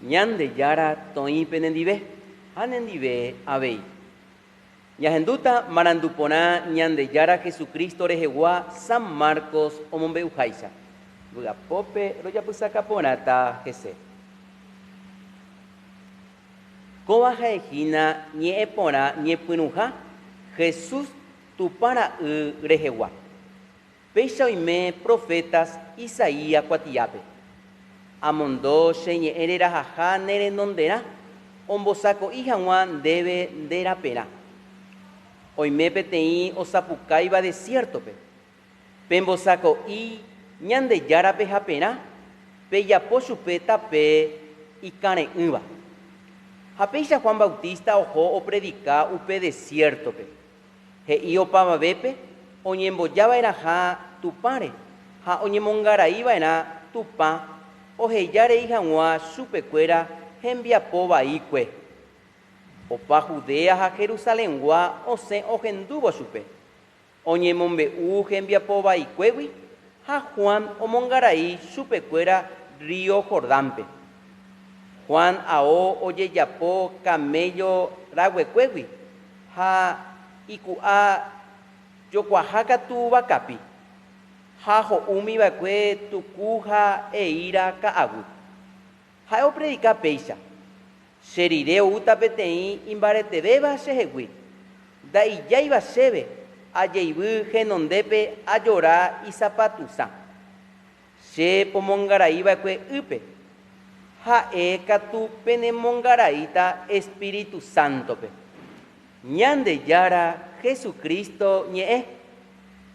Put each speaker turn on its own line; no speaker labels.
Ñandejára toĩ penendive, ha nendive avei. Ñahendúta marandu porã Ñandejára Jesucristo rehegua San Marcos omombe'uháicha, vy'apópe rojapysaka porãta hese. Kóva ha'ehína ñe'ẽ porã ñepyrũha Jesús Tupã Ra'y rehegua. Péicha oime profétas Isaías kuatiápe, Amondo che ñe'ẽ rerahaha ne renonderã, ombosako'i hag̃ua ndéve nde raperã. Oime peteĩ osapukáiva desiértope, Pembosako'i Ñandejárape haperã, pejapo chupe tape ikãre'ỹva. Ha péicha Juan Bautista oho opredika upe desiértope. He'i opavavépe oñemboja va'erãha Tupãre ha oñemongarai va'erã Tupã oheja rei hag̃ua chupe kuéra hembiapo vaikue. Opa Judea ha Jerusalengua osẽ ohendúvo chupe, oñemombe'u hembiapo vaikuégui ha Juan omongarai chupe kuéra río Jordánpe. Juan ao ojejapo camello raguekuégui. Ha iku'a jokuaha katu vakapi, ha ho'úmi va'ekue tuku ha eíra ka'aguy. Ha'e opredika péicha, Che rire oúta peteĩ imbaretevéva chehegui, nda'ijáiva chéve ajeivy henondépe ajora isapatu'sã. Che pomongarai va'ekue ýpe, ha'e katu penemongaraíta Espíritu Sántope. Ñandejára Jesucristo ñe'ẽ.